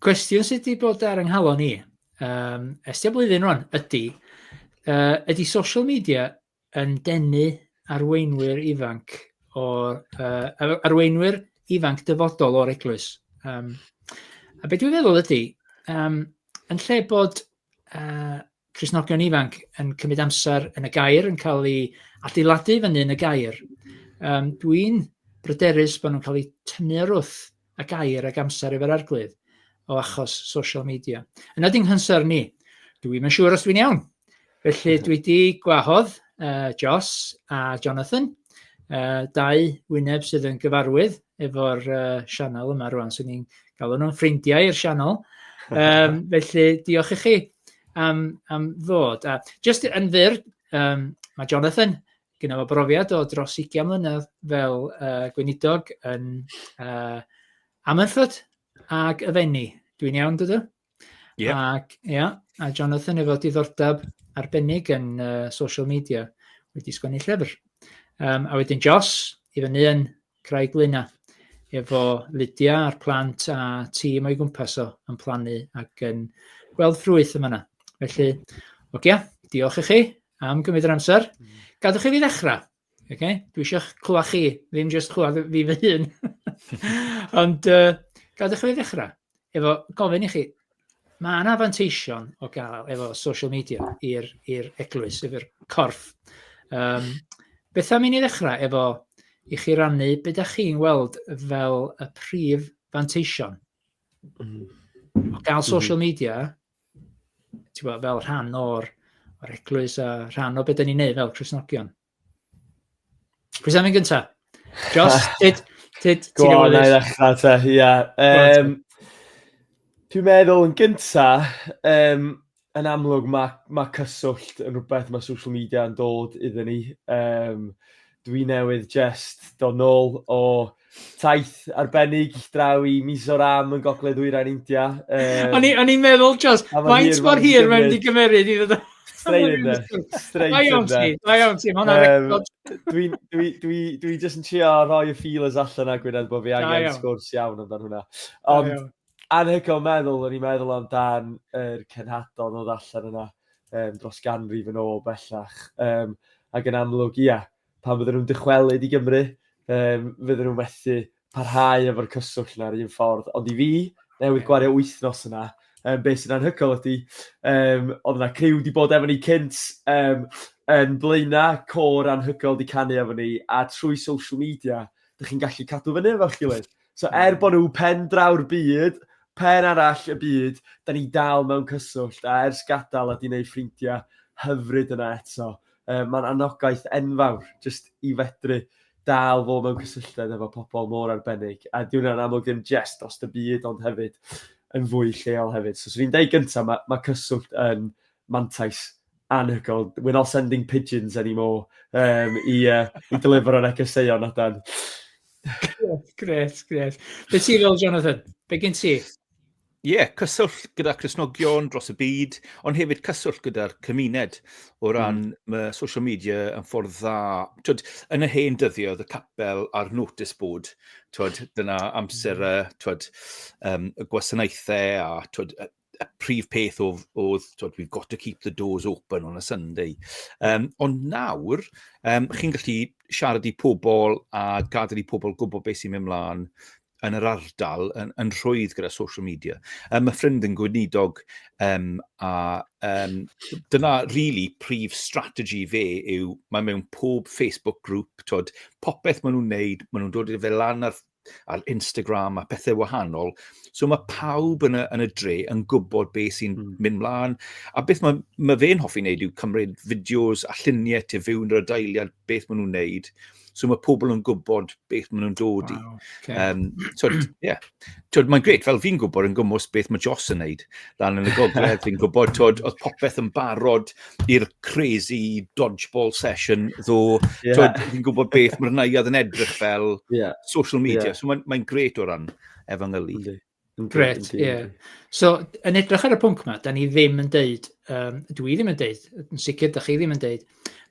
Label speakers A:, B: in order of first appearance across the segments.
A: Cwestiwn sydd wedi bod ar yng nghalon i, um, estio blwyddyn rwan, ydy, uh, ydy social media yn denu arweinwyr ifanc o'r uh, arweinwyr ifanc dyfodol o'r eglwys. Um, a beth dwi'n feddwl ydy, um, yn lle bod uh, Cristnogion ifanc yn cymryd amser yn y gair, yn cael ei adeiladu fyny yn y gair. Um, Dwi'n bryderus bod nhw'n cael eu tynnu ar wrth y gair ag amser efo'r arglwydd o achos social media. Yna di'n hynser ni. Dwi'n yn siŵr os dwi'n iawn. Felly dwi wedi gwahodd uh, Joss a Jonathan, uh, dau wyneb sydd yn gyfarwydd efo'r uh, sianel yma rwan, so ni'n galw nhw'n ffrindiau i'r sianel. Um, felly, diolch i chi am, am ddod. A just yn fyr, um, mae Jonathan, gyda fo brofiad o dros 20 mlynedd fel uh, gweinidog yn uh, Amynffyd ac y Fenni. Dwi'n iawn, dydw? Yep. Ac, ia, a Jonathan efo diddordeb arbennig yn uh, social media wedi sgwennu llyfr. Um, a wedyn Jos, i fyny yn Craig Luna, efo Lydia a'r plant a tîm o'i gwmpas o yn plannu ac yn gweld ffrwyth yma na. Felly, ogia, diolch i chi am gymryd yr amser. Mm. Gadwch i fi ddechrau. Oce, okay? dwi eisiau clywed chi, ddim jyst clywed fi fy hun. Ond uh, gadwch chi ddechrau efo gofyn i chi, mae yna fanteision o gael efo social media i'r eglwys, i'r corff. Um, beth am i ni ddechrau efo i chi rannu beth ydych chi'n weld fel y prif fanteision mm. o gael mhm. social media ti'n gwybod, fel rhan o'r, or eglwys a rhan o beth da ni'n neud fel Cresnogion. Pwys am yn gyntaf? Jos, tyd, tyd, ti'n gwybod? Gwael, na i te, ia. Um, Dwi'n meddwl yn gyntaf, um, yn amlwg mae ma cyswllt yn rhywbeth mae social media yn dod iddyn ni. Um, Dwi newydd jest dod nôl o taith arbennig draw i Mizoram yn gogledd ddwyrain India. Um, o'n i'n i meddwl, Jos, faint mor hir mae'n wedi gymeryd i ddod o... Strain yn da. Strain yn da. Mae iawn ti, mae record. Dwi'n dwi, dwi, dwi just yn trio rhoi y feelers allan a gwirionedd bod fi angen sgwrs iawn amdano hwnna. Ond, Anhygoel meddwl, o'n i'n meddwl amdan yr cenhadon oedd allan yna um, dros ganrif yn ôl bellach. Um, ac yn amlwg, ia, pan fydden nhw'n dychwelyd i Gymru, um, fydden nhw'n methu parhau efo'r cyswllt yna'r un ffordd. Ond i fi, newid gwario wythnos yna, um, beth sy'n anhygoel ydy, um, oedd yna criw wedi bod efo ni cynt um, yn blaena, cor anhygoel wedi canu efo ni, a trwy social media, dych chi'n gallu cadw fyny efo'ch gilydd. So er hmm. bod nhw pen draw'r byd, pen arall y byd, da ni dal mewn cyswllt, a ers gadael a di wneud ffrindiau hyfryd yna eto. E, Mae'n anogaeth enfawr, jyst i fedru dal fo mewn cysylltiad efo pobl mor arbennig. A di hwnna'n amlwg ddim jest dros y byd, ond hefyd yn fwy lleol hefyd. So, swn i'n deud gyntaf, mae, mae cyswllt yn mantais Anhygoel. We're not sending pigeons anymore um, i, uh, i deliver ar egyseuon o dan. Gret, gret. Be ti fel, Jonathan? Be gen ti? Ie, yeah, cyswllt gyda Cresnogion dros y byd, ond hefyd cyswllt gyda'r cymuned o hmm. ran mm. mae social media yn ffordd dda. Twyd, yn y hen dyddio, oedd y capel a'r notice board, twyd, dyna amser hmm. y, twyd, um, y gwasanaethau a twyd, y prif peth oedd, oedd twod, we've got to keep the doors open on a Sunday. Um, ond nawr, um, chi'n gallu siarad i pobl a gadael i pobl gwybod beth sy'n mynd mlaen yn yr ardal yn, yn rhwydd gyda social media. Um, mae ffrind yn gweinidog um, a um, dyna really prif strategy fe yw mae mewn pob Facebook group, twod, popeth maen nhw'n neud, maen nhw'n dod i fe lan ar ar Instagram a pethau wahanol. So mae pawb yn y, yn y dre yn gwybod beth sy'n mm. mynd mlaen. A beth mae, mae fe'n hoffi wneud yw cymryd fideos a lluniau te fywn yr adeiliad beth maen nhw'n wneud. So mae pobl yn gwybod beth maen nhw'n dod i. Wow, okay. um, so, yeah. so, mae'n gret, fel fi'n gwybod yn gwmwys beth mae Joss yn wneud. Lan yn y gogledd, fi'n gwybod, tod, oedd popeth yn barod, i'r crazy dodgeball session, ddo, yeah. so, fi'n gwybod beth mae'r naiad yn edrych fel yeah. social media. Yeah. So mae'n mae gret o ran efengylu. Gret, ie. Yeah. So, yn edrych ar y pwnc yma, da ni ddim yn deud, um, dwi ddim yn deud, yn sicr, da chi ddim yn deud,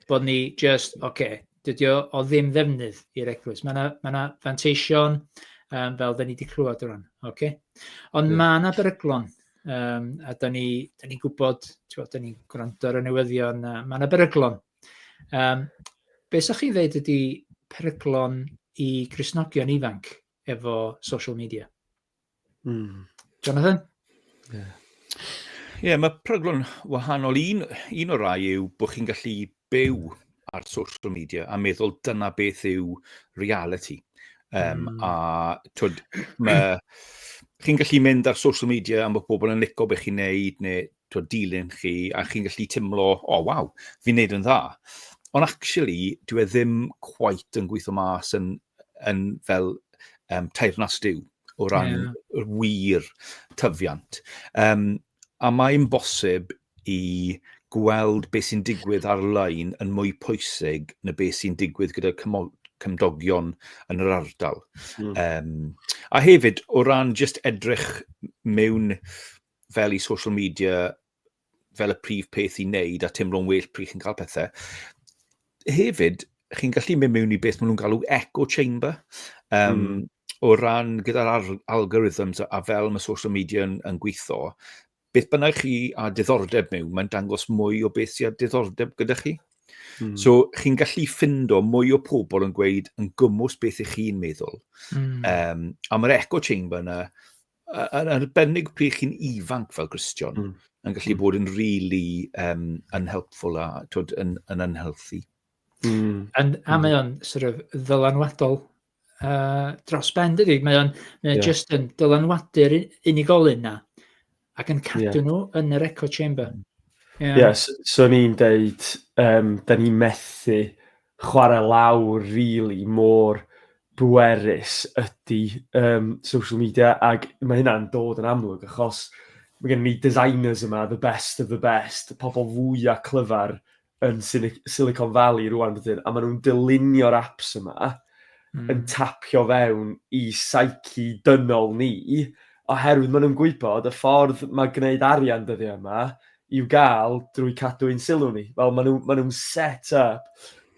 A: bod ni just, oce, okay, dydy o, o ddim ddefnydd i'r eglwys. Mae yna ma, na, fanteision, um, fel da ni wedi clywed o ran. Okay? Ond yeah. mae yna beryglon Yym a dan ni dan ni'n gwybod, tibod dan ni'n gwrando ar y newyddion a ma' na beryglon. Yym be 'sech chi'n ddeud ydy peryglon i Gristnogion ifanc efo social media? Mm. Jonathan? Ie. Yeah. Ie, mae peryglon wahanol. Un un o'r rai yw bod chi'n gallu byw ar social media a meddwl dyna beth yw reality. Um, mm. A twyd, mae... Chi'n gallu mynd ar social media am bod pobl yn licio beth chi'n neud neu twyd, dilyn chi a chi'n gallu teimlo, o oh, waw, fi'n neud yn dda. Ond actually, dwi e ddim quite yn gweithio mas yn, yn fel um, teirnas diw o ran yeah. wir tyfiant. Um, a mae'n bosib i gweld beth sy'n digwydd ar-lein yn mwy pwysig na beth sy'n digwydd gyda cymdogion yn yr ardal. Mm. Um, a hefyd, o ran just edrych mewn fel i social media fel y prif peth i wneud a teimlo'n well pryd chi'n cael pethau. Hefyd, chi'n gallu mynd mewn i beth maen nhw'n galw echo chamber. Um, mm. O ran gyda'r algorithms a fel mae social media yn, yn gweithio, beth bynnag chi a diddordeb mewn, mae'n dangos mwy o beth sy'n a diddordeb gyda chi. Mm. So, chi'n gallu ffindo mwy o pobl yn gweud yn gymwys beth ych chi'n meddwl. Mm. Um, a mae'r echo chamber yna, yn arbennig pryd chi'n ifanc fel Christian, mm. yn gallu hmm. bod yn really um, unhelpful a twyd, yn, yn unhealthy. Mm. And, a hmm. mae o'n sort of ddylanwadol uh, dros ben dydy. Mae o'n yeah. just yn dylanwadu'r unigolyn na ac yn cadw yeah. nhw yn yr echo chamber. Mm. Yeah. Yes, so ni'n deud, um, da ni'n methu chwarae lawr really mor bwerus ydy um, social media ac mae hynna'n dod yn amlwg achos mae gen ni designers yma, the best of the best, pobl fwy a clyfar yn Silicon Valley rwan bydyn, a maen nhw'n dylunio'r apps yma mm. yn tapio fewn i psyche dynol ni, oherwydd maen nhw'n gwybod y ffordd mae gwneud arian dyddiau yma i'w gael drwy cadw ein sylw ni. Fel maen nhw'n nhw set up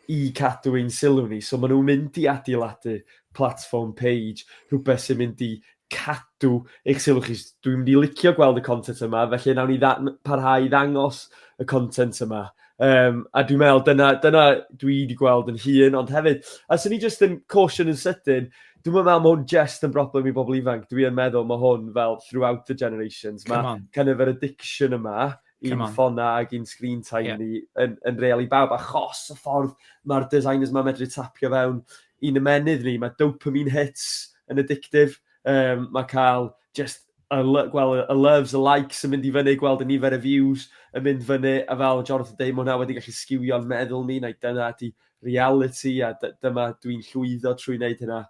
A: i cadw ein sylw ni, so maen nhw'n mynd i adeiladu platform page, rhywbeth sy'n mynd i cadw eich sylw chi. Dwi'n mynd i licio gweld y content yma, felly nawn ni parhau i ddangos y content yma. Um, a dwi'n meddwl, dyna, dyna dwi wedi gweld yn hun, ond hefyd, a sy'n ni jyst yn caution yn sydyn, dwi'n meddwl mae hwn jyst yn broblem i bobl ifanc. Dwi'n meddwl mae hwn fel throughout the generations. Mae kind of yr addiction yma, Come i'n on. ffonau ac i'n screen time Ie. ni yn, yn real i bawb, achos y ffordd mae'r designers ma medru tapio fewn i'n ymenydd ni, mae dopamine hits yn addictive, um, mae cael just y, lo- gweld y- y loves, y likes yn mynd i fyny, gweld y nifer y views yn mynd fyny, a fel Jonathan dweud, mae hwnna wedi gallu sgiwio'n meddwl ni, neu dyna ydi reality, a dy- dyma dwi'n llwyddo trwy wneud hynna.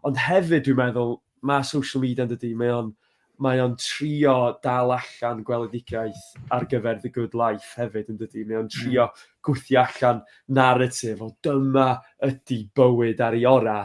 A: Ond hefyd, dwi'n meddwl, mae social media yn dydy, mae o'n mae o'n trio dal allan gweledigaeth ar gyfer The Good Life hefyd yn dydy. Mae o'n hmm. trio gwthio allan narratif o dyma ydy bywyd ar ei ora.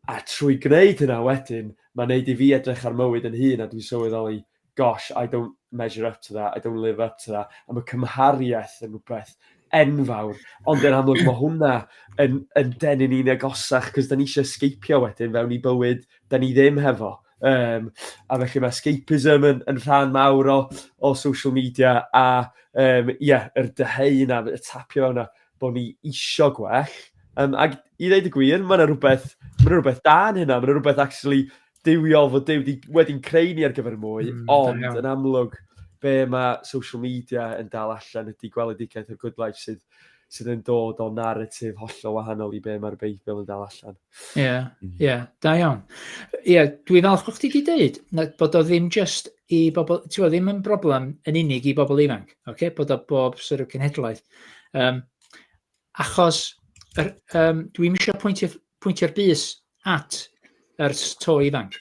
A: A trwy gwneud hynna wedyn, mae'n neud i fi edrych ar mywyd yn hun a dwi'n sylweddoli, gosh, I don't measure up to that, I don't live up to that. A mae cymhariaeth yn rhywbeth enfawr. Ond yn amlwg mae hwnna yn, yn denu ni'n agosach, cos da ni eisiau sgeipio wedyn fewn i bywyd da ni ddim hefo. Um, a felly mae escapism yn, yn rhan mawr o, o social media a um, yeah, yr dyheu yna, y tapio yna, bod ni isio gwell. Um, ac i ddeud y gwir, mae yna rhywbeth, ma rhywbeth da yn hynna, mae yna rhywbeth actually diwiol fod Dyw wedi'n creu ni ar gyfer y mwy, mm, ond yn amlwg, be mae social media yn dal allan ydy gweledigaeth o'r good life sydd sydd yn dod o narratif hollol wahanol i be mae'r Beibl yn dal allan. Ie, yeah, mm. ie, yeah, da iawn. Ie, yeah, dwi'n falch bod chdi wedi dweud bod o ddim just i bobl, ti'n gwybod, ddim yn broblem yn unig i bobl ifanc, okay? bod o bob sort of cenhedlaeth. Um, achos er, um, dwi'n eisiau pwyntio'r pwyntio bus at yr to ifanc.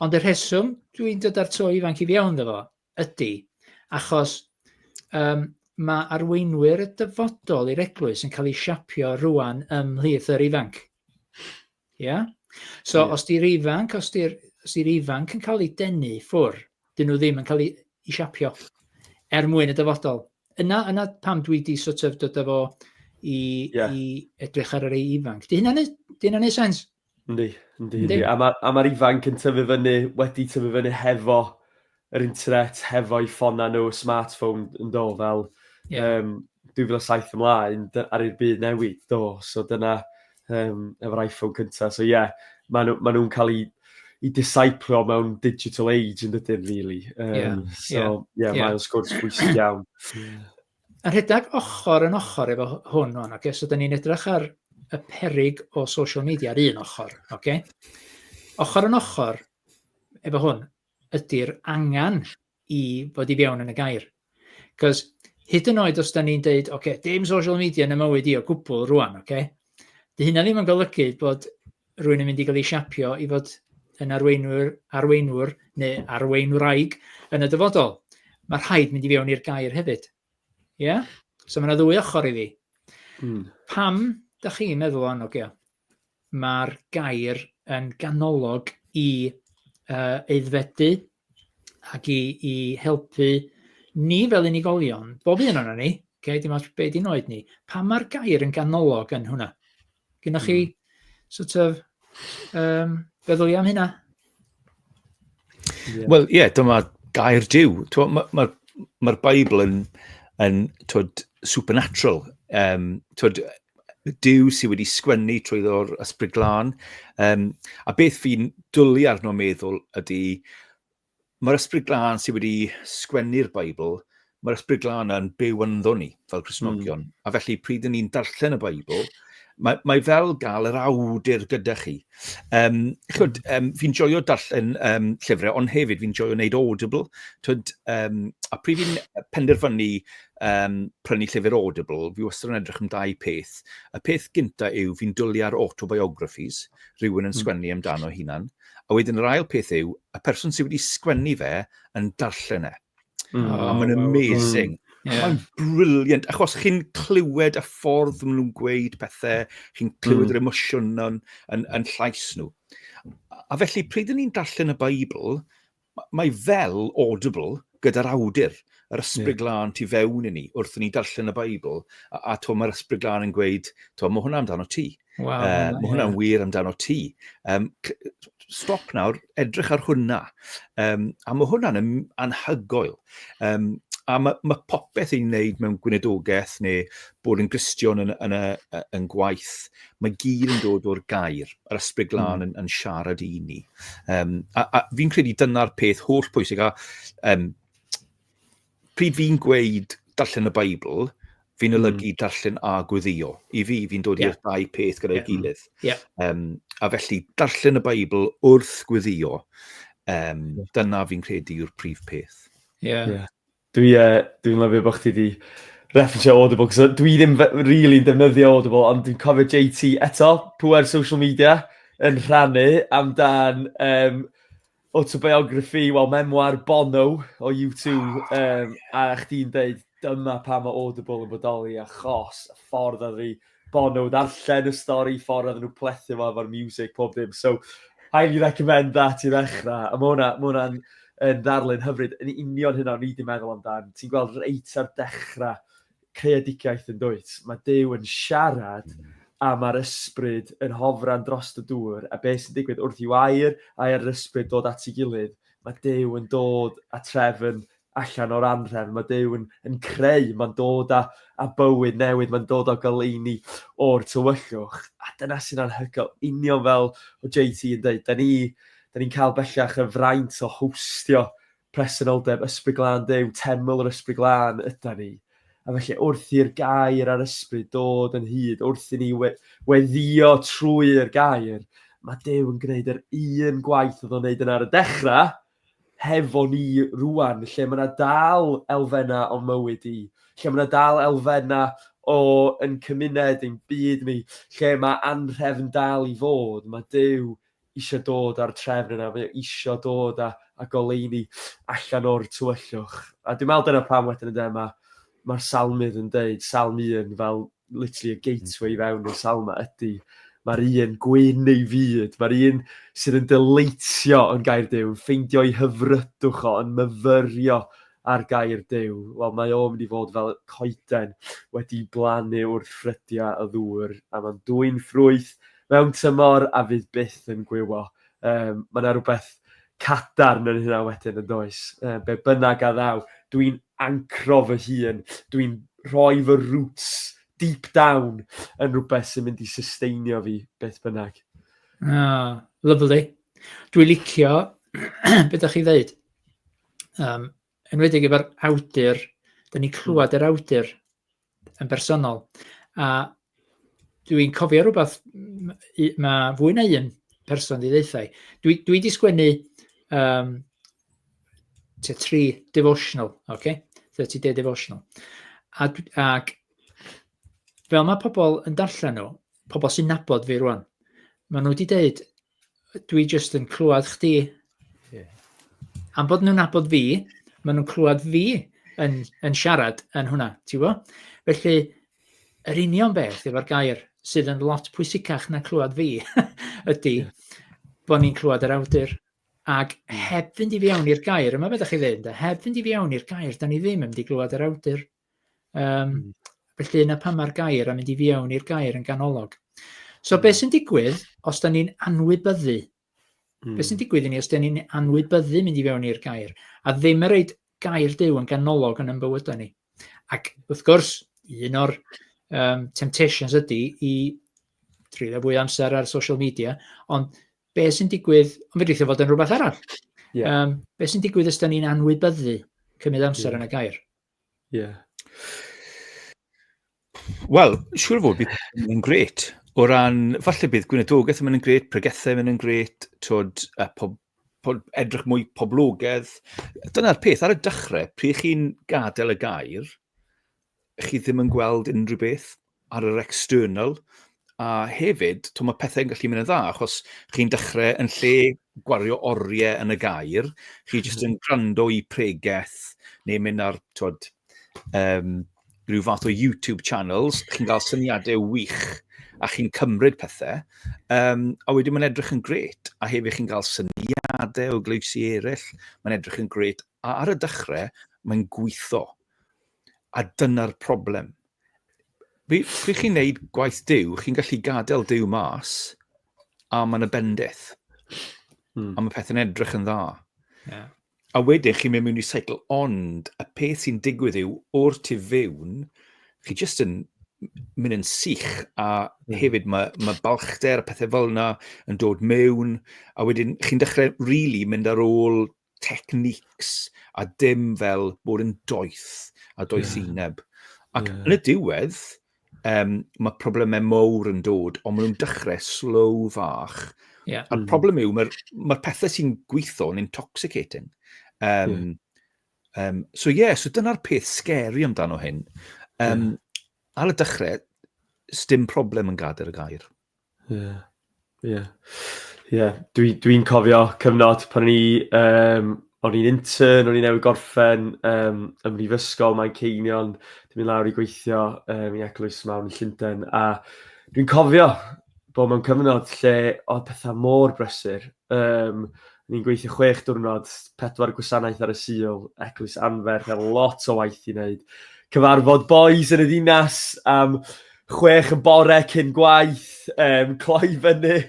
A: Ond y rheswm dwi'n dod ar to ifanc i fi iawn efo, Ydy, achos um, mae arweinwyr y dyfodol i'r eglwys yn cael ei siapio rwan ymhlith yr ifanc. Ia? So, yeah. os di'r ifanc, os di'r di ifanc yn cael ei denu ffwr, dyn nhw ddim yn cael ei, ei siapio er mwyn y dyfodol. Yna, yna pam dwi di sort of dod efo i, yeah. i edrych ar yr ei ifanc. Di hynna'n neud sens? Yndi, yndi, yndi. A mae'r ma, ma ifanc yn tyfu fyny, wedi tyfu fyny hefo yr internet, hefo'i ffonau nhw, smartphone yn do, fel yeah. um, 2007 ymlaen, ar i'r byd newid do. So dyna um, efo'r iPhone cyntaf. So ie, yeah, maen nhw'n ma nhw cael ei i disciplio mewn digital age yn dydyn, really. Um, yeah, so, yeah, yeah. mae'n sgwrs bwysig iawn. A rhedeg ochr yn ochr efo hwn o'n, okay? so da ni'n edrych ar y perig o social media ar un ochr. Okay? Ochr yn ochr efo hwn ydy'r angen i fod i fewn yn y gair. Cos hyd yn oed os da ni'n deud, okay, dim social media yn y mywyd i o gwbl rwan, okay? dy hynna ddim yn golygu bod rwy'n mynd i gael ei siapio i fod yn arweinwr, arweinwr neu arweinwraig yn y dyfodol. Mae rhaid mynd i fewn i'r gair hefyd. Ie? Yeah? So mae yna ddwy ochr iddi. Hmm. Pam, da chi'n meddwl o'n ogio, mae'r gair yn ganolog i uh, eiddfedu ac i, i helpu ni fel unigolion, bob un o'n ni, okay, dim ots be di'n oed ni, pa mae'r gair yn ganolog yn hwnna? Gynnwch chi mm. sort of um, feddwl i am hynna? Yeah. Wel, ie, yeah, dyma gair diw. Mae'r ma, ma Bible yn, yn twyd, supernatural. Um, twyd, Duw sydd wedi sgwennu trwy ddo'r ysbryd glân. Um, a beth fi'n dwlu arno meddwl ydy, mae'r ysbryd glân sydd wedi sgwennu'r Beibl, mae'r ysbryd glân yn byw ynddo ni fel Cresnogion. Mm. A felly, pryd yn ni'n darllen y Beibl, mae, mae fel gael yr awdur gyda chi. Um, chwyd, um, fi'n joio darllen um, llyfrau, ond hefyd fi'n joio wneud Audible. Chwyd, um, a pryd fi'n penderfynu um, prynu llyfr Audible, fi wastad yn edrych am dau peth. Y peth gynta yw fi'n dwlu ar autobiographies, rhywun yn hmm. sgwennu amdano hunan. A wedyn yr ail peth yw, y person sydd wedi sgwennu fe yn darllen e. Mm. Oh, a mae'n amazing. Mm. Yeah. Mae'n briliant, achos chi'n clywed y ffordd maen nhw'n gweud pethau, chi'n clywed mm. yr emosiwn yn, yn, yn llais nhw. A felly, pryd ni'n darllen y Beibl, mae fel audible gyda'r awdur, yr ysbryd yeah. glân tu fewn i ni, wrth ni darllen y Beibl, a, a to mae'r ysbryd glân yn gweud, to mae hwnna amdano ti. Wow, uh, mae hwnna'n wir amdano ti. Um, stop nawr, edrych ar hwnna. Um, a mae hwnna'n anhygoel. Um, a mae, mae popeth i'n wneud mewn gwynedogaeth neu bod yn gristion yn, yn, yn, yn gwaith, mae gyd yn dod o'r gair, yr ysbryd glân mm. yn, yn siarad i ni. Um, a, a fi'n credu dyna'r peth holl pwysig. A, um, Pryd fi'n gweud darllen y Beibl, fi'n hmm. olygu mm. darllen a gweddio. I fi, fi'n dod yeah. i'r dau peth gyda'i yeah. gilydd. Yeah. Um, a felly, darllen y Beibl wrth gweddio, um, dyna fi'n credu yw'r prif peth. Yeah. yeah. Dwi'n uh, dwi lyfio bod chdi wedi referensio Audible, cos dwi ddim rili'n really defnyddio Audible, ond dwi'n cofio JT eto, pwer social media, yn rhannu amdan um, Autobiography, wel, memoir Bono o U2, um, a chdi'n dweud dyma pa mae Audible yn bodoli, achos y ffordd oedd fi Bono ddarllen y stori, ffordd oedd nhw plethu fo efo'r music, pob dim. So, highly recommend that i ddechrau. A mae hwnna'n hwnna yn ddarlun hyfryd. Yn union hynna o'n i wedi meddwl amdan. Ti'n gweld reit ar dechrau creadigaeth yn dwyt? Mae Duw yn siarad a mae'r ysbryd yn hofran drost y dŵr a beth sy'n digwydd wrth i'w air a'i ar yr ysbryd dod at ei gilydd? Mae Duw yn dod a trefn allan o'r anhrefn, mae Duw yn, yn creu, mae'n dod a, a bywyd newydd, mae'n dod o goleuni o'r tywyllwch. A dyna sy'n anhygoel, union fel o JT yn dweud, da ni, da ni'n cael bellach y fraint o hostio Presenoldeb Ysbryd Glân Duw, teml yr Ysbryd Glân ydan ni. A felly wrth i'r gair a'r ysbryd dod yn hyd, wrth i ni we- weddio trwy'r gair, mae Duw yn gwneud yr un gwaith oedd o'n wneud yn ar y dechrau, hefo ni rwan, lle mae yna dal elfennau o'n mywyd i, lle mae yna dal elfennau o yn cymuned, ein byd ni, lle mae anrhefn dal i fod, mae Duw eisiau dod â'r trefn yna, mae o eisiau dod a, a goleini allan o'r tywyllwch. A dwi'n meddwl dyna pam wedyn ynddo, mae mae'r salmydd yn deud, salm un, fel literally y gateway i fewn i'r salma ydy, mae'r un gwyn ei fyd, mae'r un sydd yn dyleitio yn gair Dyw, yn ffeindio ei hyfrydwch o, yn myfyrio ar gair Dyw. Wel, mae o'n mynd i fod fel coeden wedi blannu wrth ffrydiau y ddŵr, a mae'n dwy'n ffrwyth, mewn tymor a fydd byth yn gwywo. Um, mae yna rhywbeth cadarn yn hynna wedyn yn does. Uh, be bynnag a ddaw, dwi'n ancro fy hun, dwi'n rhoi fy roots deep down yn rhywbeth sy'n mynd i susteinio fi beth bynnag. Ah, lovely. Dwi'n licio beth ydych chi ddeud. Um, enwedig efo'r awdur, da ni'n clywed yr awdur yn bersonol. A dwi'n cofio rhywbeth, mae fwy na un person di ddeithau. Dwi, dwi di sgwennu um, te tri devotional, okay? 30 day devotional. A, ac fel mae pobl yn darllen nhw, pobl sy'n nabod fi rwan, maen nhw wedi dweud, dwi jyst yn clywed chdi. Yeah. Am bod nhw'n abod fi, maen nhw'n clywed fi yn, yn siarad yn hwnna, ti bo? Felly, yr union beth efo'r gair sydd yn lot pwysicach na clywed fi ydy bod ni'n clywed yr awdur. Ac heb fynd i fi awn i'r gair, yma beth ydych chi ddweud, heb fynd i fi awn i'r gair, da ni ddim yn mynd i glywed yr awdur. Um, mm. Felly yna pan mae'r gair a mynd i fiewn i'r gair yn ganolog. So mm. beth sy'n digwydd os da ni'n anwybyddu? Mm. Beth sy'n digwydd i ni os da ni'n anwybyddu mynd i fiewn i'r gair? A ddim yn reid gair dew yn ganolog yn ymbywydau ni. Ac wrth gwrs, un o'r um, temptations ydy i trylio fwy amser ar social media, ond be sy'n digwydd, ond fe ddweithio fod yn rhywbeth arall. Yeah. Um, be sy'n digwydd ysda ni'n anwybyddu cymryd amser yeah. yn y gair? Ie. Wel, siŵr o fod bydd yn mynd yn gret. O ran, falle bydd gweinyddogaeth yn mynd yn gret, pregethau yn mynd yn gret, twyd, a pob, pob, edrych mwy poblogedd. Dyna'r peth, ar y dechrau, pryd chi'n gadael y gair, chi ddim yn gweld unrhyw beth ar yr external, a hefyd, to, mae pethau'n gallu mynd yn dda, achos chi'n dechrau yn lle gwario oriau yn y gair, chi jyst yn gwrando i pregeth, neu mynd ar, twod, um, rhyw fath o YouTube channels, chi'n cael syniadau wych, a chi'n cymryd pethau, um, a wedyn mae'n edrych yn gret, a hefyd chi'n cael syniadau o gleifsi eraill, mae'n edrych yn gret, a ar y dechrau, mae'n gweithio. A dyna'r problem. Fi, pryd chi'n neud gwaith Dyw, chi'n gallu gadael Dyw mas, a mae'n y bendith. Hmm. A mae pethau'n edrych yn dda. Yeah. A wedyn chi'n mynd mewn i seicl, ond y peth sy'n digwydd yw, o'r tu fewn, chi jyst yn mynd yn sych, a mm. hefyd mae, mae balchder a pethau fel yna yn dod mewn, a wedyn chi'n dechrau rili really mynd ar ôl techniques a dim fel bod yn doeth a doethineb. Yeah. Ac yeah. yn y diwedd, um, mae problemau mawr yn dod, ond maen nhw'n dechrau slow fach. Yeah. A'r mm. problem yw, mae'r ma pethau sy'n gweithio yn intoxicating. Um, yeah. um, so ie, yeah, so dyna'r peth scary amdano hyn. Um, yeah. Ar y dechrau, stym problem yn gadael y gair. Ie. Ie. Ie. Dwi dwi'n cofio cyfnod pan o'n i yym o'n i'n intern o'n i newydd gorffen yym ym mhrifysgol Manceinion dwi myn' lawr i gweithio yym i eglwys mawr yn Llunden a dwi'n cofio bo' mewn cyfnod lle odd petha mor brysur yym ni'n gweithio chwech diwrnod, pedwar gwasanaeth ar y Sul, eglwys anferth, a lot o waith i neud. Cyfarfod bois yn y ddinas am chwech yn bore cyn gwaith, um, cloi fyny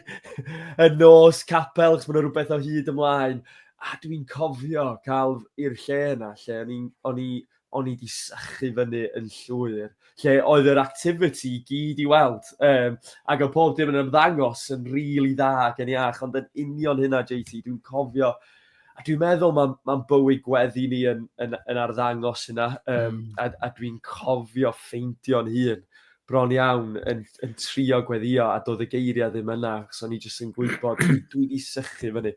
A: y nos capel, chos mae'n rhywbeth o hyd ymlaen. A dwi'n cofio cael i'r lle yna, lle o'n i'n o'n i o'n i wedi sychu fyny yn llwyr, lle oedd yr activity i gyd i weld, um, ac o pob dim yn ymddangos yn rili really dda ac yn iach, ond yn union hynna, JT, dwi'n cofio a dwi'n meddwl mae'n ma bywyd gweddi ni yn, yn, yn arddangos yna, um, mm. a, a dwi'n cofio ffeindio'n hun bron iawn yn, yn trio gweddio a doedd y geiriau ddim yna, so ni jyst yn gwybod, dwi, dwi wedi sychu fyny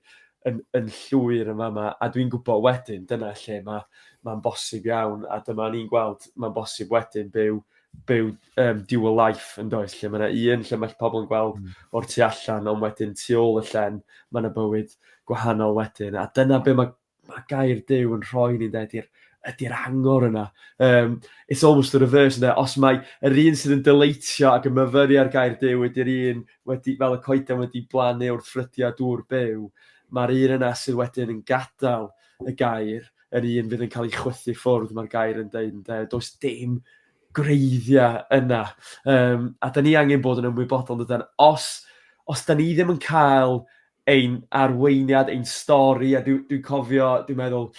A: yn, yn llwyr yn fama, a dwi'n gwybod wedyn, dyna lle mae'n ma bosib iawn, a dyma ni'n gweld, mae'n bosib wedyn byw, byw um, dual life yn does, lle mae yna un lle mae pobl yn gweld mm. o'r tu allan, ond wedyn tu ôl y llen, mae yna bywyd gwahanol wedyn. A dyna be mae, mae gair Dyw yn rhoi ni'n dweud i'r ydy'r angor yna. Um, it's almost the reverse yna. Os mae yr un sydd yn dyleitio ac yn myfyru ar gair Dyw ydy'r un wedi, fel y coeden wedi blannu wrth ffrydiau dŵr byw, mae'r un yna sydd wedyn yn gadael y gair, yr un fydd yn cael ei chwythu ffwrdd, mae'r gair yn dweud, does dim gwreiddiau yna. Um, a da ni angen bod yn ymwybodol, dydan, os, os da ni ddim yn cael ein arweiniad, ein stori, a dwi'n dwi cofio, dwi'n meddwl,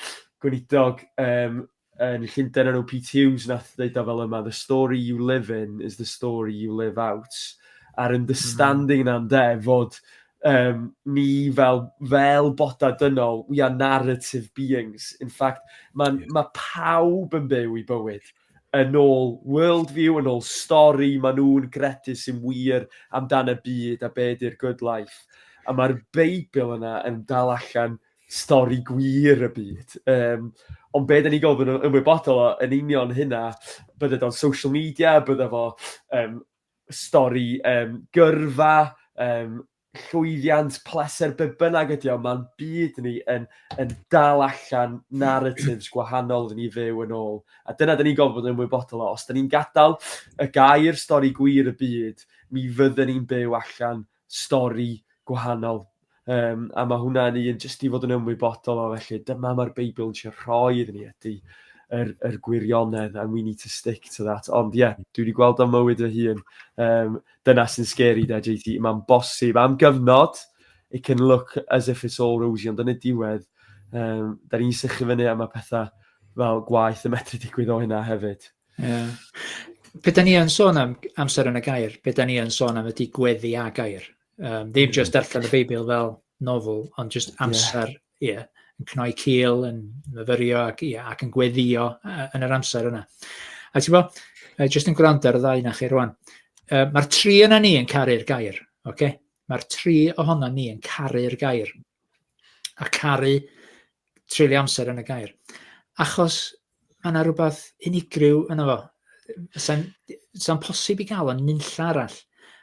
A: gweinidog um, yn Llundain enw Pete Hughes nath ddeud o fel yma, the story you live in is the story you live out. A'r understanding mm. na'n de, fod um, ni fel, fel boda dynol, we are narrative beings. In fact, mae yeah. ma pawb yn byw i bywyd Yn ôl worldview, yn ôl stori maen nhw'n gredu sy'n wir amdan y byd a be ydy'r good life. A mae'r Beibl yna yn dal allan stori gwir y byd. Um, ond be da ni gofyn yn ymwybodol o yn union hynna, bydde o'n social media, bydde fo um, stori um, gyrfa, um, llwyddiant, pleser, be bynnag ydi o, mae'n byd ni yn, yn dal allan narratives gwahanol rydyn ni fyw yn ôl. A dyna dyn ni'n gofod bod yn ymwybodol o. Os dyn ni'n gadael y gair stori gwir y byd, mi fydden ni'n byw allan stori gwahanol. Um, a mae hwnna'n un jyst i fod yn ymwybodol o felly. Dyma mae'r Beibl yn siarad rhoi iddyn ni ydy yr, yr gwirionedd and we need to stick to that. Ond ie, yeah, dwi wedi gweld o'n mywyd fy hun. Um, Dyna sy'n scary 'da JT, mae'n bosib am gyfnod it can look as if it's all rosy ond yn y diwedd um, da ni'n sychu fyny a mae pethau fel gwaith yn metru digwydd o hynna hefyd. Yeah. Be da ni yn sôn am amser yn y gair, be da ni yn sôn am ydy gweddi a gair. Um, ddim just darllen y Beibl fel nofel, ond just amser yeah. ie, yn cnoi cil, yn myfyrio ac, ie, ac yn gweddio yn yr amser yna. A ti'n bod, jyst yn gwrando ar y ddau na chi rwan, uh, mae'r tri yna ni yn caru'r gair. Okay? Mae'r tri ohono ni yn caru'r gair. A caru treulio amser yn y gair. Achos Mae yna rhywbeth unigryw yna fo. Sa'n sa posib i gael o'n nunlla arall.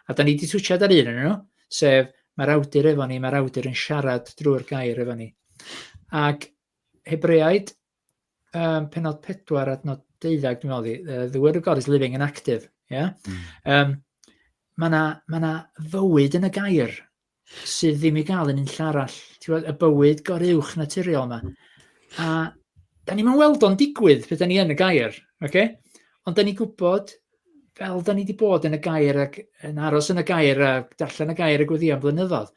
A: A da ni wedi twsiad ar un yn nhw, sef mae'r awdur efo ni, mae'r awdur yn siarad drwy'r gair efo ni. Ac Hebreaid, um, penod 4 adnod 12, dwi'n meddwl, uh, the word of God is living and active. Yeah? Mm. Um, mae yna ma fywyd yn y gair, sydd ddim i gael yn unlla arall. Ti'n gwybod, y bywyd goruwch naturiol yma. A da ni'n mynd weld o'n digwydd pe da ni yn y gair, okay? ond da ni'n gwybod fel da ni wedi bod yn y gair ac yn aros yn y gair a darllen y gair y gweddi am flynyddoedd.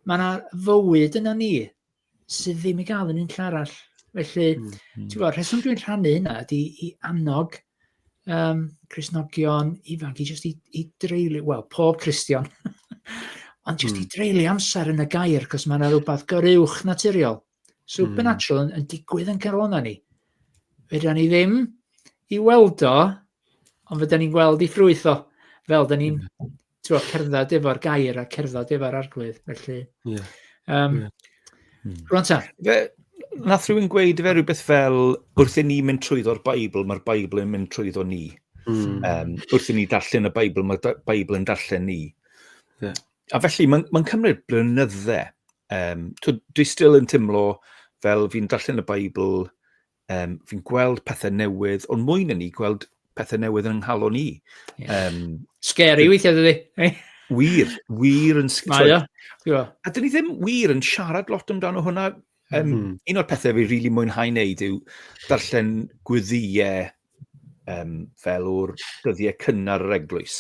A: Mae yna fywyd yna ni, sydd ddim i gael yn unlle arall. Felly, mm, mm. ti'n gwybod, rheswm dwi'n rhannu hynna ydy i annog um, Cresnogion ifanc i just i, i dreulio, wel, pob Cristion, ond just mm. i hmm. dreulio amser yn y gair, cos mae yna rhywbeth goruwch naturiol, supernatural, mm. yn, yn digwydd yn cael o'na ni. Fydda ni ddim i weld o, ond fydda ni'n gweld i ffrwyth o, fel da ni'n hmm. twa, cerdded efo'r gair a cerdded efo'r arglwydd, felly... Yeah. Um, yeah. Hmm. Rwan ta. Fe, nath rhywun gweud fe rhywbeth fel, wrth i ni mynd trwyddo'r Beibl, mae'r Beibl yn mynd trwyddo ni. Mm. Um, wrth i ni darllen y Beibl, mae'r Beibl yn darllen ni. Yeah. A felly, mae'n ma cymryd blynyddau. Um, dwi still yn teimlo fel fi'n darllen y Beibl Um, fi'n gweld pethau newydd, ond mwy na ni, gweld pethau newydd yn nghalon ni. Yeah. Um, Scary weithiau dydy. Eh? wir, wir yn... Mae o. A dyn ni ddim wir yn siarad lot amdano hwnna. Um, mm -hmm. Un o'r pethau fi rili really mwynhau wneud yw darllen gwyddiau um, fel o'r dyddiau cynnar yr eglwys.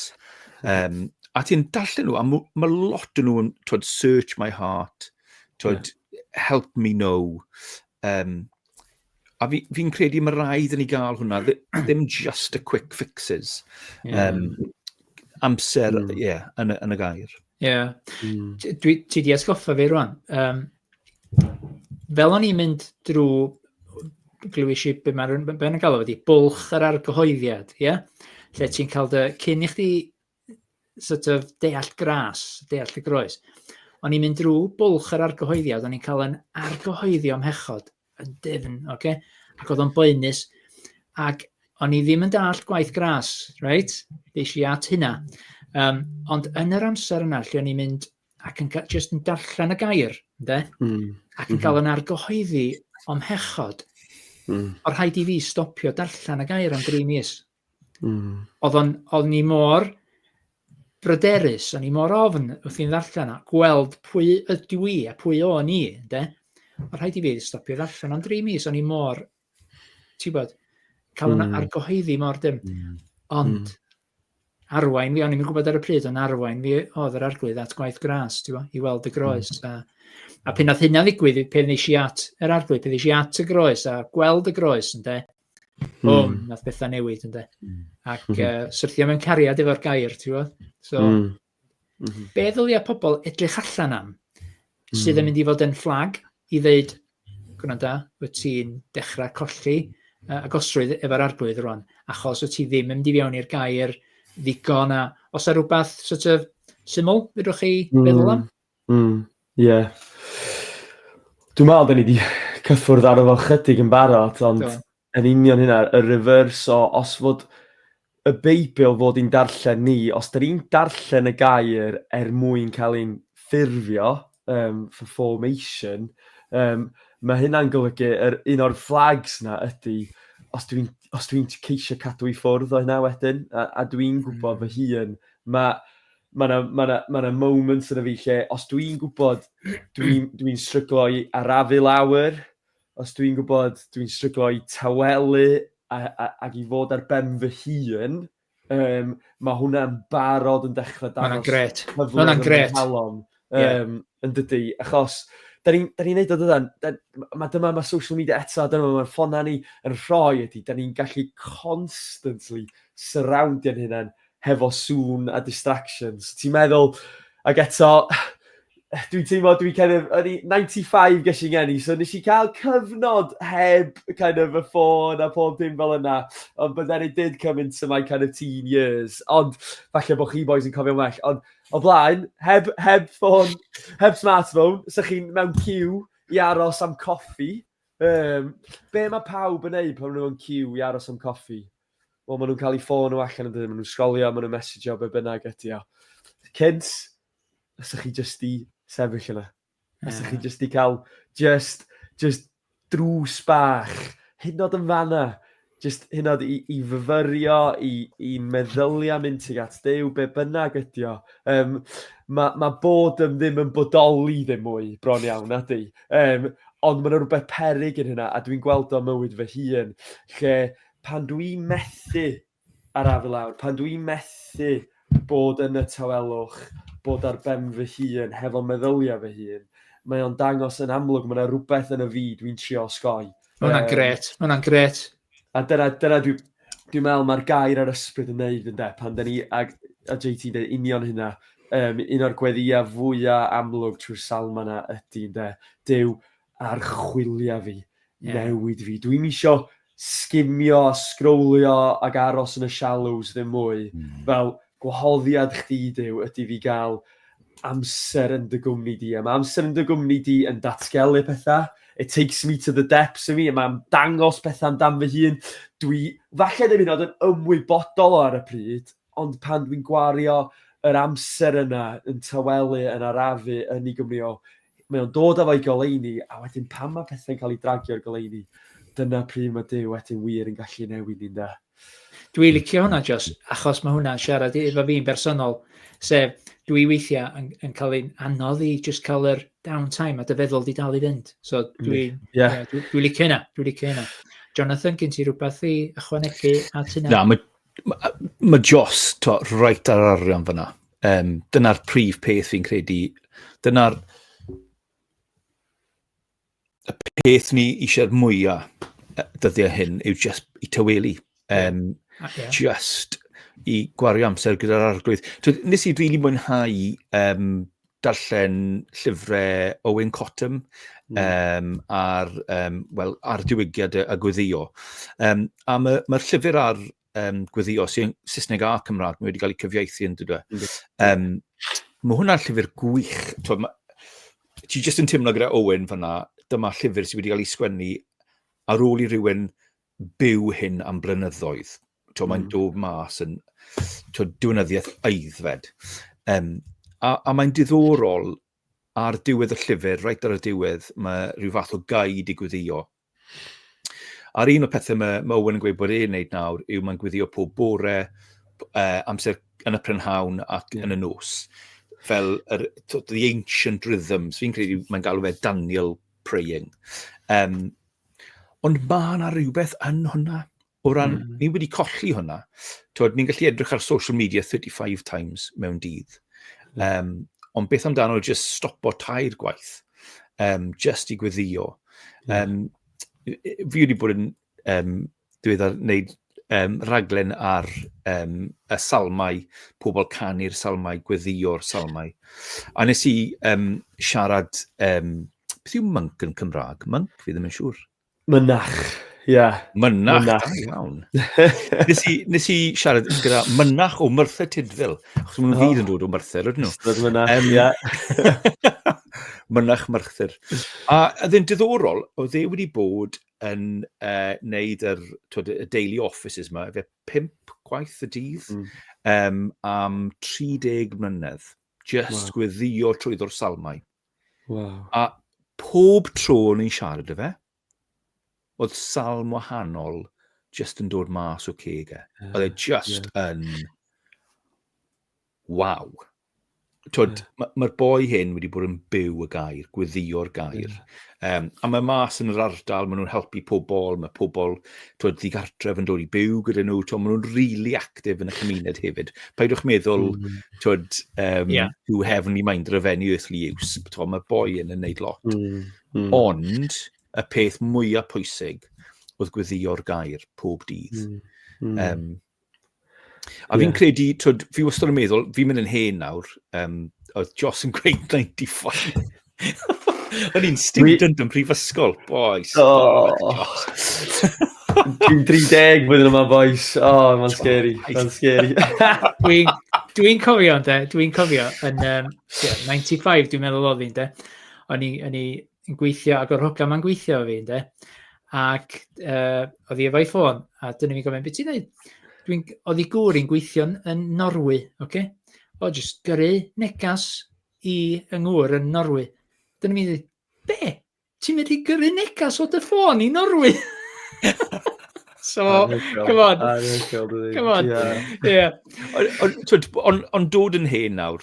A: Um, a ti'n darllen nhw, a mae lot yn nhw'n, twyd, search my heart, twyd, yeah. help me know, um, a fi'n fi credu mae rhaid i ni gael hwnna, ddim just y quick fixes. Yeah. Um, amser, hmm. ie, mm. yeah, yn, yn y gair. Ie. Yeah. Mm. Dwi, ti di esgoffa fi rwan. Um, fel o'n i'n mynd drwy glywys i be mae'n ben yn galw wedi, bwlch yr argyhoeddiad, ie? Yeah? Lle ti'n cael dy cyn i chdi sort of deall gras, deall y groes. O'n i'n mynd drwy bwlch yr argyhoeddiad, o'n i'n cael yn argyhoeddio mhechod yn dyfn, oce? Okay? Ac oedd o'n boenus, ac o'n i ddim yn dallt gwaith gras, reit? Ddeis i at hynna. Um, ond yn yr amser yna, lle o'n i'n mynd ac yn just yn darllen y gair, de? Mm. Ac yn mm -hmm. cael yn argyhoeddi o'm hechod, mm. o rhaid i fi stopio darllen y gair am dri mis. Mm. Oedd o'n, oedd ni mor bryderus, o'n i mor ofn wrth i'n ddarllen a gweld pwy ydw i a pwy o'n i, de? O rhaid i fi stopio ddarllen am dri mis, o'n i mor, ti'n bod, cael mm. argohyddi mor dim. Mm. Ond, mm. arwain fi, o'n i'n gwybod ar y pryd, ond arwain fi oedd yr arglwydd at gwaith gras, ti'n bod, i weld y groes. Mm. A, a pan oedd hynna ddigwydd, pan nes i at yr arglwydd, pan nes i at y groes a gweld y groes, ynddo, Mm. O, hmm. nath bethau newid, ynddo. Mm. Ac uh, hmm. syrthio mewn cariad efo'r gair, ti'n gwybod? So, mm. Mm -hmm. be ddylia pobl edrych allan am mm. sydd yn hmm. mynd i fod yn fflag i ddeud, gwna da, wyt ti'n dechrau colli uh, agosrwydd efo'r arglwydd rwan, achos wyt ti ddim yn mynd i fewn i'r gair ddigon a os ar rhywbeth sort of, syml, fydwch chi mm. feddwl am? Hmm ie. Dwi me'wl 'dyn ni 'di cyffwrdd aro fo chydig yn barod ond... Do. ...yn union hynna y reverse o os fod y Beibl fod i'n darllen ni os 'dyn ni'n darllen y gair er mwyn ca'l ein ffurfio yym for formation yym ma' hynna'n golygu yr un o'r flags 'na ydi os dwi'n os dwi'n t- ceisio cadw i ffwrdd o hynna wedyn a a dwi'n gwbod fy hun ma' mae yna ma na, ma na moments yn y fi lle, os dwi'n gwybod dwi'n dwi stryglo i arafu lawr, os dwi'n gwybod dwi'n stryglo i tawelu ac i fod ar ben fy hun, um, mae hwnna'n barod yn dechrau dangos cyfle yn gret. Yeah. Um, yn dydy, achos da ni'n ni neud o dydan, mae dyma mae social media eto, dyma mae'r ffonau ni yn rhoi ydy, da ni'n gallu constantly surroundio'n hynny hefo sŵn a distractions. Ti'n meddwl, ac eto, dwi'n teimlo, dwi'n kind of, o'n i 95 ges i'n geni, so nes i cael cyfnod heb kind of y ffôn a pob dim fel yna, ond but then it did come into my kind of teen years, ond falle bod chi boys yn cofio well, ond o blaen, heb, heb ffôn, heb smartphone, sy'ch chi'n mewn cyw i aros am coffi. Um, be mae pawb yn neud pan nhw'n cyw i aros am coffi? Wel, maen nhw'n cael eu ffôn o allan yn dydyn, maen nhw'n sgolio, maen nhw'n messejo, be bynnag ydy o. Cynt, os ych chi jyst i sefyll yna. Os ydych chi jyst i cael just, just drws bach, hyn oed yn fanna, just hyn oed i, i fyfyrio, i, i meddyliau mynd tuag at dew, be bynnag ydy o. Um, mae, ma bod yn ddim yn bodoli ddim mwy, bron iawn, ydy. Um, ond mae'n rhywbeth perig yn hynna, a dwi'n gweld o mywyd fy hun, lle pan dwi'n methu Araf i lawr. Pan dw i'n methu bod yn y tawelwch, bod ar ben fy hun, hefo meddyliau fy hun, mae o'n dangos yn amlwg, mae 'na rywbeth yn y fi dw i'n trio osgoi. Mae hwnna'n gret, mae hwnna'n gret. A dyna, dyna dwi, dwi'n meddwl mae'r gair a'r ysbryd yn neud yn de, pan da ni, a, a JT'n dweud union hynna, um, un o'r gweddiau fwyaf amlwg trwy'r salma yna ydy yn de, Dyw archwilio fi, i newid fi. Dwi ddim isio sgimio a sgrowlio ac aros yn y shallows ddim mwy. Mm. Fel gwahoddiad chdi, Duw, ydy fi gael amser yn dy gwmni di. A mae amser yn dy gwmni di yn datgelu pethau. It takes me to the depths i mi, a mae'n dangos pethau amdan fy hun. Dwi, falle ddim yn oed yn ymwybodol o ar y pryd, Ond pan dwi'n gwario yr amser yna yn tawelu, yn arafu, yn ei Gymru o, mae o'n dod â fo i goleuni, a wedyn pan mae pethau'n cael ei dragio i'r goleuni, dyna pryd mae Duw wedyn wir yn gallu newid ni, ynde? Dwi licio hwnna, Jos, achos mae hwnna'n siarad efo fi'n bersonol, sef dwi weithiau yn, yn cael ein anodd i just cael yr downtime a dy feddwl di dal i fynd. So dwi, yeah. yeah, dwi, dwi licio hynna, dwi licio hynna. Jonathan, gen ti rhywbeth i ychwanegu at hynna? Na, mae Mae ma Joss to, reit ar arian fyna. Um, Dyna'r prif peth fi'n credu. Dyna'r y peth ni eisiau'r mwyaf dyddiau hyn yw just i tyweli. Um, okay. Just i gwario amser gyda'r arglwydd. Nes i rili really mwynhau um, darllen llyfrau Owen Cottam mm. um, ar, um, well, ar diwygiad a gweddio. Um, a mae'r ma, llyfr ar um, gweddio sy'n Saesneg a Cymraeg, mae wedi cael ei cyfieithu yn dydw. E. Um, mae hwnna'n llyfr gwych. Twa, ma, ti jyst yn teimlo gyda Owen fanna, dyma llyfr sydd wedi cael ei sgwennu ar ôl i rywun byw hyn am blynyddoedd. Tio, mm. Mae'n dod mas yn tio, diwynyddiaeth aeddfed. Um, a, a mae'n diddorol ar diwedd y llyfr, reit ar y diwedd, mae rhyw fath o gau i gwyddio. A'r un o'r pethau mae, mae Owen yn gweud bod e'n neud nawr yw mae'n gwyddio pob bore, uh, amser yn y prynhawn ac yn y nos. Fel yr, the ancient rhythms, fi'n credu mae'n galw fe Daniel praying. Um, Ond mae yna rhywbeth yn hwnna. O ran, mm. ni wedi colli hwnna. Twyd, ni'n gallu edrych ar social media 35 times mewn dydd. Um, ond beth amdano just stopo tair gwaith, um, just i gweddio. Um, fi wedi bod yn um, diweddar wneud um, rhaglen ar um, y salmau, pobl canu'r salmau, gweddio,'r salmau. A nes i um, siarad, um, beth yw mync yn Cymraeg? Mync, fi ddim yn siŵr. Mynach, ie. Yeah. Mynach, mynach. da iawn. nes, i, nes i siarad gyda mynach o Myrthyr Tydfil, achos maen nhw'n oh. yn dod o Myrthyr, ydyn nhw? Ystod mynach, um, ie. mynach Myrthyr. A oedd e'n diddorol, oedd e wedi bod yn uh, neud yr, twyd, y daily offices yma, efe pimp gwaith y dydd mm. um, am 30 mlynedd. Just wow. gweddio trwyddo'r salmau. Wow. A pob tro o'n i'n siarad y fe, oedd salm wahanol just yn dod mas o ceg e. Yeah. Oedd e just yeah. yn... Wow. Twyd, yeah. mae'r ma boi hyn wedi bod yn byw y gair, gweddio'r gair. Yeah. Um, a mae mas yn yr ardal, maen nhw'n helpu pobl, mae pobl twyd, ddigartref yn dod i byw gyda nhw, twyd, maen nhw'n really actif yn y cymuned hefyd. Paidwch meddwl, mm. twyd, um, yeah. you heavenly mind of any earthly use, twyd, mae boi yn yn neud lot. Mm. Mm. Ond, y peth mwyaf pwysig oedd gweddio'r gair pob dydd. Mm. Mm. Um, A fi'n yeah. credu, twyd, fi wastad yn meddwl, fi'n mynd yn hen nawr, um, oedd Joss yn gweud 95. O'n i'n student yn prifysgol, boys. Oh. Dwi'n 30 blwyddyn yma, boys. O, oh, mae'n scary, mae'n scary. Dwi'n dwi cofio, de, dwi'n cofio, yn um, yeah, 95, dwi'n meddwl oedd fi'n, de. O'n i, o'n i, yn gweithio ac o'r hwca mae'n gweithio fi, ynddo. Ac uh, oedd hi efo'i ffôn, a dyn ni'n gofyn, beth ti'n dweud? Dwi'n, oedd hi gŵr i'n gweithio yn Norwy, oce? Okay? O, jyst gyrru negas i yng ngŵr yn Norwy. Dyn ni'n mynd, be? Ti'n mynd i gyrru negas o dy ffôn i Norwy? So, come on. Come on. Ond dod yn hen nawr,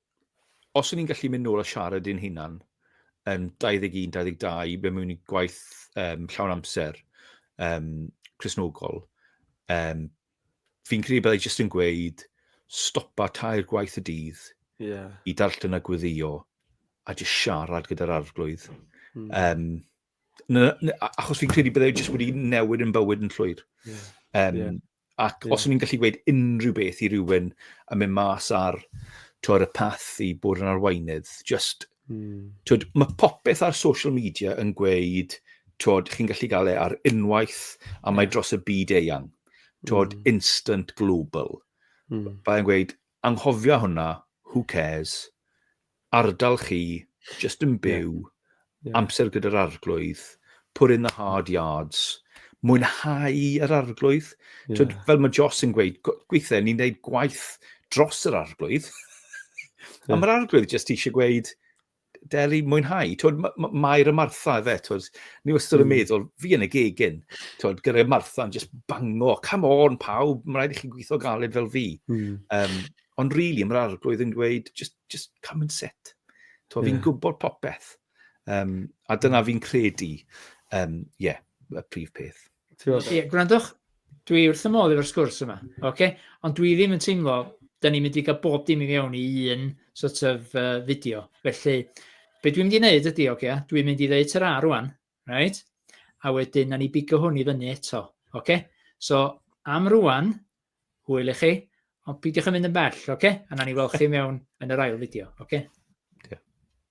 A: os o'n i'n gallu mynd nôl a siarad i'n hunan yn 21, 22, be mewn i gwaith um, llawn amser um, Cresnogol, um, fi'n credu byddai jyst yn gweud stopa tair gwaith y dydd yeah. i darllen a gweddio a jyst siarad gyda'r arglwydd. Mm. Um, na, na, achos fi'n credu byddai jyst wedi newid yn bywyd yn llwyr. Yeah. Um, yeah. Ac yeah. os o'n i'n gallu gweud unrhyw beth i rywun yn mynd mas ar twyd, y path i bod yn arweinydd, just, mm. twyd, mae popeth ar social media yn gweud, twyd, chi'n gallu gael e ar unwaith, a mae dros y byd eang. Twyd, mm. instant global. Mm. Byddai'n gweud, Anghofia hwnna, who cares? Ardal chi, jyst yn byw, amser gyda'r Arglwydd, put in the hard yards, mwynhau yr Arglwydd. Twyd, fel mae Joss yn gweud, gweithiau ni'n gwneud gwaith dros yr Arglwydd, a mae'r Arglwydd jyst eisiau gweud, deli mwynhau. Twyd, mae'r y Martha efe, twyd, ni wastad yn hmm. meddwl, fi yn y gegin, twyd, gyda Martha yn just bango, come on pawb, mae'n rhaid i chi gweithio galed fel fi. Mm. Um, ond rili, really, mae'r arglwydd yn gweud, just, just come and sit. Twyd, yeah. fi'n gwybod popeth. Um, a dyna hmm. fi'n credu, um, yeah, y prif peth. Ie, gwrandwch, dwi wrth y modd efo'r sgwrs yma, oce? Ond dwi ddim yn teimlo, da ni'n mynd i gael bob dim i fewn i un sort of uh, fideo. Felly, be dwi'n mynd i wneud ydy, oce, dwi'n mynd i ddeud tyra rwan, right? A wedyn, na ni bigo hwn i fyny eto, oce? So, am rwan, hwyl i chi, ond pidiwch yn mynd yn bell, oce? A na ni weld chi mewn yn yr ail fideo, oce?